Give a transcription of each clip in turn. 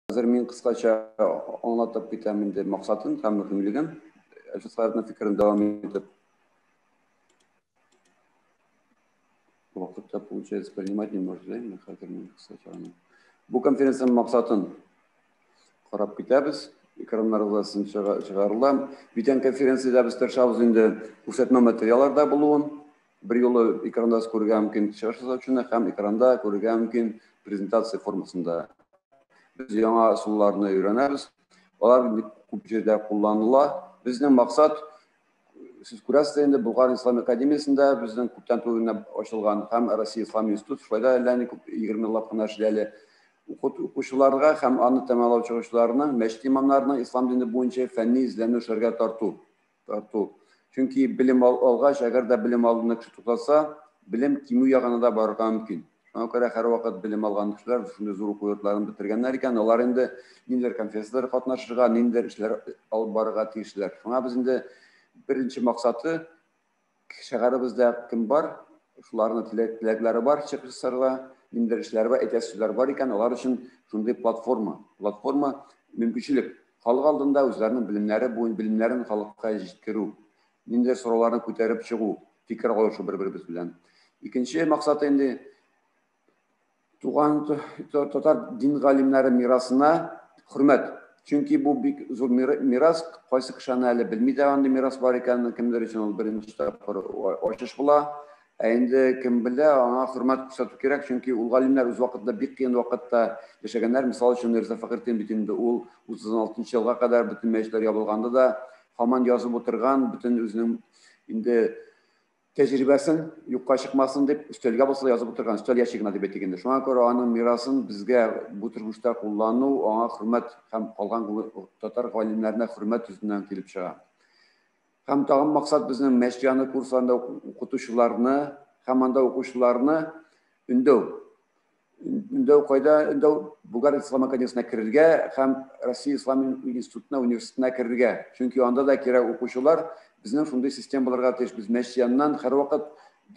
Хәзер мин кыскача аңлатып китәм инде максатын һәм мөһимлеген. Әлфис Хаятның фикерен дәвам итеп. Вакытта получается принимать не может, да? Хәзер мин кыскача аны. Бу конференциянең максатын карап китәбез. Экраннарда син чыгарыла. Бүтән конференциядә без тырышабыз инде күрсәтмә материалларда булуын. бер юлы экранда күрергә мөмкин чыгыш ясаучыны һәм экранда күрергә мөмкин презентация формасында. Без яңа ысулларны өйрәнәбез. Алар күп җирдә кулланыла. Безнең максат сез күрәсез инде Болгар ислам академиясендә безнең күптән түгел ачылган һәм Россия ислам институты шулай да әллә ни күп 20 еллап кына эшли әле укучыларга һәм аны тәмамлау чыгышларының мәчет имамнарының ислам дине буенча фәнни эзләнү эшләргә тарту тарту. Чөнки белем алгач, әгәр дә белем алуны кеше туктатса, белем кимү ягына да барырга мөмкин. Шуңа күрә һәрвакыт белем алган кешеләр шундый зур уку йортларын бетергәннәр икән, алар инде ниндидер конференцияләргә катнашырга, ниндидер эшләр алып барырга тиешләр. Шуңа без инде беренче максаты Шәһәребездә кем бар, шуларның теләкләре бар, чыгышлары бар, ниндидер эшләре бар, әйтәсе сүзләре бар икән, алар өчен шундый платформа. Платформа, мөмкинчелек. Халык алдында үзләренең белемнәре буенча белемнәрен халыкка җиткерү, ниндидер сорауларны күтәреп чыгу, фикер алышу бер-беребез белән. Икенче максаты инде туган татар дин галимнәре мирасына хөрмәт. Чөнки бу бик зур мирас, кайсы кеше аны әле белми дә андый мирас бар икәнен, кемдер өчен ул беренче тапкыр ачыш була. Ә инде кем белә, аңа хөрмәт күрсәтү кирәк, чөнки ул галимнәр үз вакытында бик кыен вакытта яшәгәннәр. Мисал өчен Мирза Фәхретдин бит инде ул 36 елга кадәр бөтен мәчетләр ябылганда да һаман язып утырган, бөтен үзенең инде тәҗрибәсен юкка чыкмасын дип, өстәлгә булса язып утырган, өстәл ящигына дип әйтик инде. Шуңа күрә аның мирасын безгә бу тормышта куллану, аңа хөрмәт һәм калган татар галимнәренә хөрмәт йөзеннән килеп чыга. Һәм тагын максат безнең Мәчет яны курсларында укытучыларны һәм анда укучыларны өндәү. инде кайда инде Булгар ислам академиясенә керергә һәм Россия ислам институтына университетына керергә. Чөнки анда да кирәк укучылар безнең шундый система булырга тиеш. Без мәчет яныннан һәрвакыт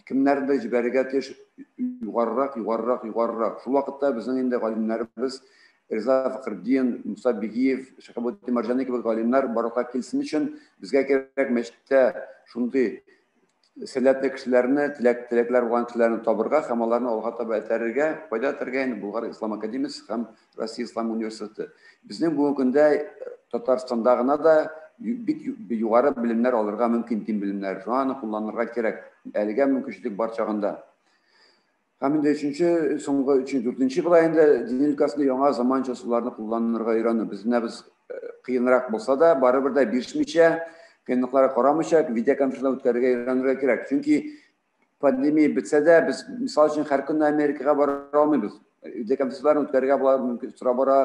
кемнәрдер җибәрергә тиеш югарырак, югарырак, югарырак. Шул вакытта безнең инде галимнәребез Риза Фәхретдин, Муса Бигиев, Шәһабетдин Марҗани кебек галимнәр барлыкка килсен өчен безгә кирәк мәчеттә шундый сәләтле кешеләрне, теләк, теләкләр булган кешеләрне табырга һәм аларны алга таба этәрергә, кайда этәрергә инде Булгар Ислам академиясе һәм Россия Ислам университеты. Безнең бүгенге көндә э, Татарстанда гына да бик югары белемнәр алырга мөмкин, дин белемнәре. Шуңа аны кулланырга кирәк. Әлегә мөмкинчелек бар чагында. Һәм инде өченче, соңгы өченче, дүртенче була инде дин өлкәсендә яңа заманча ысулларны кулланырга өйрәнү. Без менә без кыенрак булса да, барыбер дә бирешмичә, кыенлыкларга карамыйча, видеоконференцияне үткәрергә өйрәнергә кирәк. Чөнки пандемия бетсә дә, без, мисал өчен, һәр көнне Америкага бара алмыйбыз. Видеоконференцияләрне үткәрергә була, мөмкин, тора бара,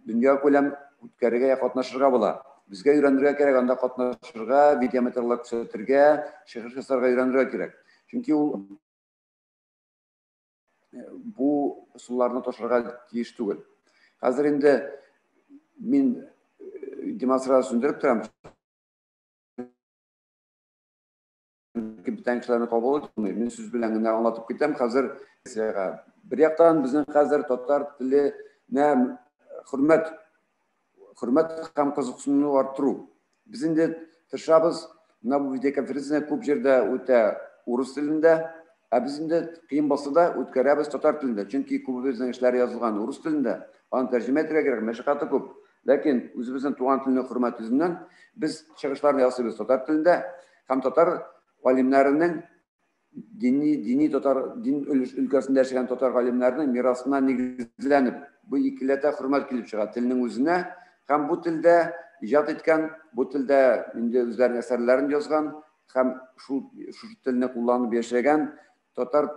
дөнья күләм үткәрергә, катнашырга була. Безгә өйрәнергә кирәк, анда катнашырга, видеоматериаллар күрсәтергә, чыгыш ясарга өйрәнергә кирәк. Чөнки ул бу суларны ташырга тиеш түгел. Хәзер инде мин демонстрация сүндереп торам. Бүтән кешеләрне кабул итмый. Мин сүз белән генә аңлатып китәм. Хәзер бер яктан безнең хәзер татар теленә хөрмәт хөрмәт һәм кызыксынуны арттыру. Без инде тырышабыз, менә бу видеоконференция күп җирдә үтә урыс телендә, ә без инде кыен булса да үткәрәбез татар телендә, чөнки күбебезнең эшләр язылган урыс телендә, аны тәрҗемә итәргә кирәк, мәшәкате күп. Ләкин үзебезнең туган телне хөрмәт йөзеннән без чыгышларны ясыйбыз татар телендә һәм татар галимнәренең дини, дини татар, дин өлкәсендә яшәгән татар галимнәренең мирасына нигезләнеп, бу икеләтә хөрмәт килеп чыга телнең үзенә һәм бу телдә иҗат иткән, бу телдә инде үзләренең әсәрләрен язган һәм шул шушы телне кулланып яшәгән татар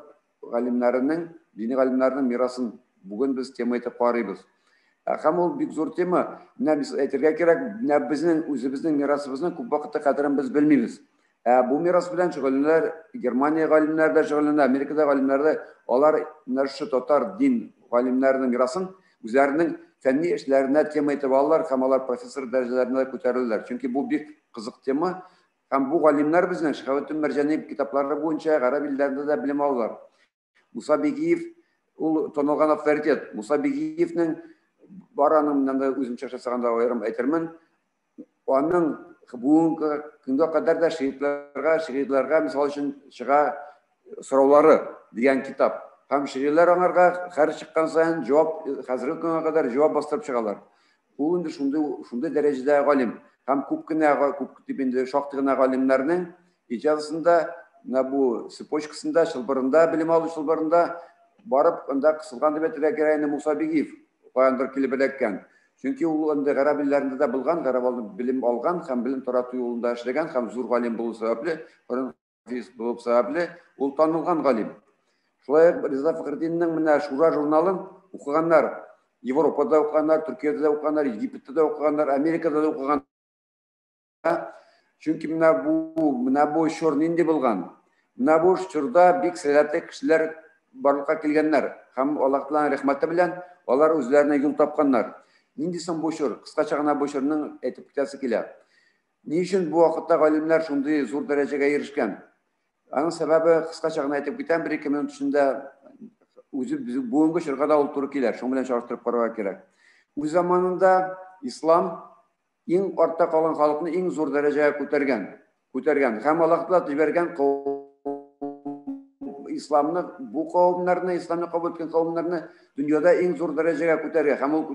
галимнәренең, дини галимнәренең мирасын бүген без тема итеп карыйбыз. Ә һәм ул бик зур тема. Менә без әйтергә кирәк, менә безнең үзебезнең мирасыбызның күп вакытта кадерен без белмибез. Ә бу мирас белән шөгыльләнәләр, Германия галимнәре дә шөгыльләнә, Америкада галимнәре дә, алар менә шушы татар дин галимнәренең мирасын үзләренең фәнни эшләренә тема итеп алалар һәм алар профессор дәрәҗәләренә күтәреләләр. Чөнки бу бик кызык тема һәм бу галимнәр безнең Шихабетдин Мәрҗани китаплары буенча гарәп илләрендә дә белем алалар. Муса Бигиев ул танылган авторитет. Муса Бигиевнең бараның менән дә үземчә жасаганда аерым әйтермен. Аның бүгенге көнгә кадәр дә шигырьләргә, шигырьләргә мисал өчен чыга сораулары дигән китап. Һәм шигырьләр аңарга хәр чыккан саен җавап хәзерге көнгә кадәр җавап бастырып чыгалар. Ул инде шундый шундый дәрәҗәдә галим һәм күп кенә күп дип инде шактый гына галимнәрнең иҗазасында менә бу цепочкасында чылбырында белем алу чылбырында барып анда кысылган дип әйтергә кирәк инде Муса Бигиев каяндыр килеп эләккән. Чөнки ул инде гарәп илләрендә дә булган, гарәп белем алган һәм белем тарату юлында эшләгән һәм зур галим булу сәбәпле, Юрист булып сәбәпле, ул танылган галим. Шулай ук Риза Фәхретдиннең менә Шура журналын укыганнар. Европада укыганнар, Төркиядә дә укыганнар, Египетта да укыганнар, Америкада да укыган. Чөнки менә бу, менә бу чор нинди булган? Менә бу чорда бик сәләтле кешеләр барлыкка килгәннәр һәм Аллаһ Тәгаләнең рәхмәте белән алар үзләренә юл тапканнар. Нинди соң бу чор? Кыскача гына бу чорның әйтеп китәсе килә. Ни өчен бу вакытта галимнәр шундый зур дәрәҗәгә ирешкән? Аның сәбәбе кыскача гына әйтеп китәм, бер-ике минут эчендә үзе бүгенге чорга да ул туры килә. Шуның белән чагыштырып карарга кирәк. Үз заманында ислам иң артта калган халыкны иң зур дәрәҗәгә күтәргән, күтәргән һәм Аллаһ та җибәргән исламны бу кавымнарны, исламны кабул иткән кавымнарны дөньяда иң зур дәрәҗәгә күтәргән һәм ул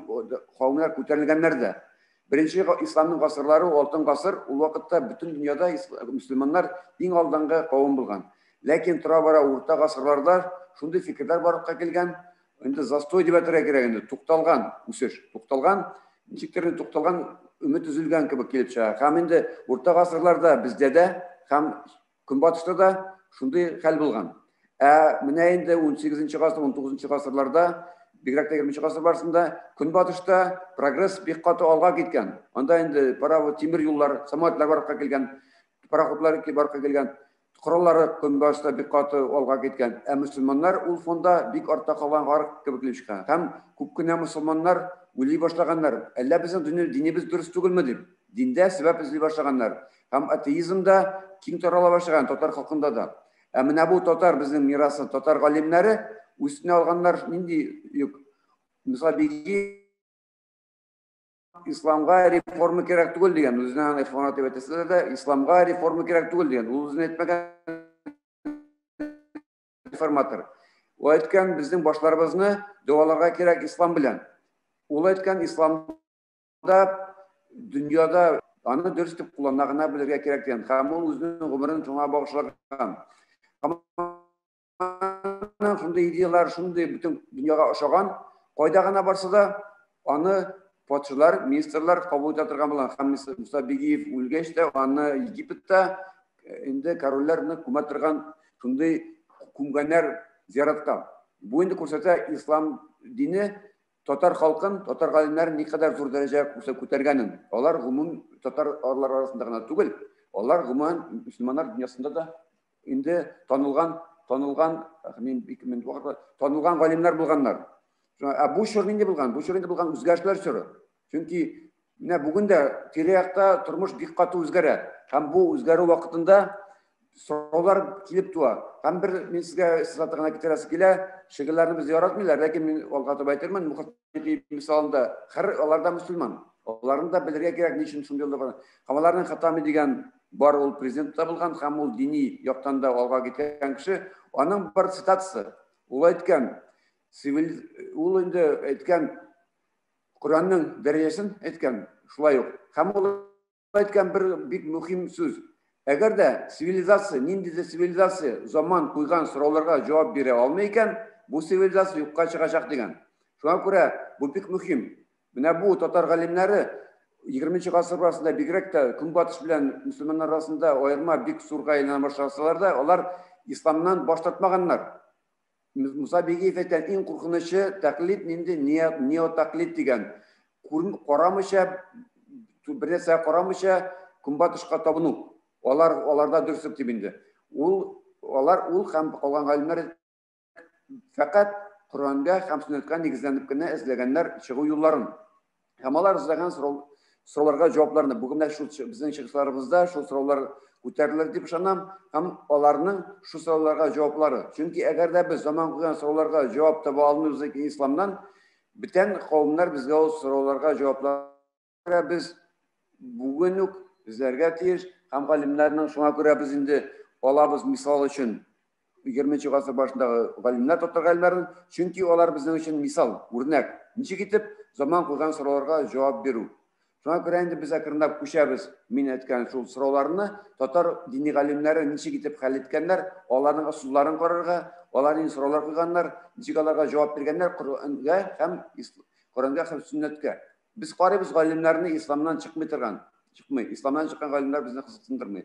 кавымнар күтәрелгәннәр дә. Беренче исламның гасырлары алтын гасыр, ул вакытта бөтен дөньяда мөселманнар иң алдынгы кавым булган. Ләкин тора-бара урта гасырларда шундый фикерләр барлыкка килгән, инде застой дип әйтергә кирәк инде, тукталган үсеш, тукталган, ничектер инде тукталган, өмет өзелгән кебек килеп чыга. Һәм инде урта гасырларда бездә дә һәм Көнбатышта да шундый хәл булган. Ә менә инде 18 гасыр, 19 гасырларда, бигрәк тә 20 гасыр барысында Көнбатышта прогресс бик каты алга киткән. Анда инде паровоз, тимер юллар, самолетлар барып килгән, пароходлар барып килгән. Кораллары Көнбатышта бик каты алга киткән. Ә мөселманнар ул фонда бик артта калган гарык кебек килеп чыга. Һәм күп кенә мөселманнар уйлый башлаганнар, әллә безнең динебез дөрес түгелме дип, диндә сәбәп эзли башлаганнар. Һәм атеизм да киң тарала башлаган татар халкында да. Ә менә бу татар безнең мирасын татар галимнәре үстенә алганнар нинди юк. Мисал биги исламга реформа кирәк түгел дигән үзенә аны ихванат дип әйтәсе дә исламга реформа кирәк түгел дигән ул үзенә әйтмәгән реформатор. Ул әйткән безнең башларыбызны дәваларга кирәк ислам белән. Ул әйткән ислам Анда дөньяда аны дөрес дип куллана гына белергә кирәк дигән һәм ул үзенең гомерен шуңа багышлаган шундый идеялар шундый бөтен дөньяга ошаган кайда гына барса да аны патшалар министрлар кабул итә торган булган һәм муса бигиев үлгәч тә аны египетта инде корольләрне күмә торган шундый күмгәннәр зияраткан бу инде күрсәтә ислам дине татар халкын, татар галимнәрен никадәр зур дәрәҗә күтәргәнен, алар гомум татар арлар арасында гына түгел, алар гомумән мөселманнар дөньясында да инде танылган, танылган, мин бик мин вакыт танылган галимнәр булганнар. Ә бу чор нинди булган? Бу чор инде булган үзгәрешләр чоры. Чөнки Менә бүген дә тирә-якта тормыш бик каты үзгәрә. Һәм бу үзгәрү вакытында сораулар килеп туа. Һәм бер мин сезгә сызаты гына китерәсе килә, шигырьләрне без яратмыйлар, ләкин мин алга таба әйтелмән, мөхәтти мисалында, хәр алар да мөселман. Аларны да белергә кирәк, ни өчен шундый булган. Һәм аларның хатами дигән бар ул президент та булган, һәм ул дини яктан да алга киткән кеше. Аның бар цитатасы. Ул әйткән, ул инде әйткән, Коръәннең дәрәҗәсен әйткән, шулай ук. Һәм ул әйткән бер бик мөһим сүз. Әгәр дә цивилизация, ниндидер цивилизация заман куйган сорауларга җавап бирә алмый икән, бу цивилизация юкка чыгачак дигән. Шуңа күрә бу бик мөһим. Менә бу татар галимнәре 20 гасыр арасында бигрәк тә көнбатыш белән мөселманнар арасында аерма бик зурга әйләнә башласалар да, алар исламнан баш тартмаганнар. Муса Бигиев әйтә, иң куркынычы тәклид нинди неотәклид дигән. Карамыйча, бернәрсә карамыйча көнбатышка табыну. Алар аларда дөрслек дип инде. Ул алар ул һәм калган галимнәр фәкать Коръәнгә һәм сөннәткә нигезләнеп кенә эзләгәннәр чыгу юлларын. Һәм алар эзләгән сорау, сорауларга җавапларны бүген менә шул безнең чыгышларыбызда шул сораулар күтәрелер дип ышанам һәм аларның шул сорауларга җаваплары. Чөнки әгәр дә без заман куйган сорауларга җавап таба алмыйбыз икән исламнан, бүтән кавемнәр безгә ул сорауларга җаваплар без бүген үк эзләргә тиеш һәм галимнәрнең шуңа күрә без инде алабыз мисал өчен 20 гасыр башындагы галимнәр татар галимнәрен, чөнки алар безнең өчен мисал, үрнәк, ничек итеп заман куйган сорауларга җавап бирү. Шуңа күрә инде без әкренләп күчәбез, мин әйткән шул сорауларны татар дини галимнәре ничек итеп хәл иткәннәр, аларның ысулларын карарга, алар нинди сораулар куйганнар, ничек аларга җавап биргәннәр Коръәнгә һәм Коръәнгә һәм сөннәткә. Без карыйбыз галимнәрне исламнан чыкмый торган, чыкмый, исламнан чыккан галимнәр безне кызыксындырмый.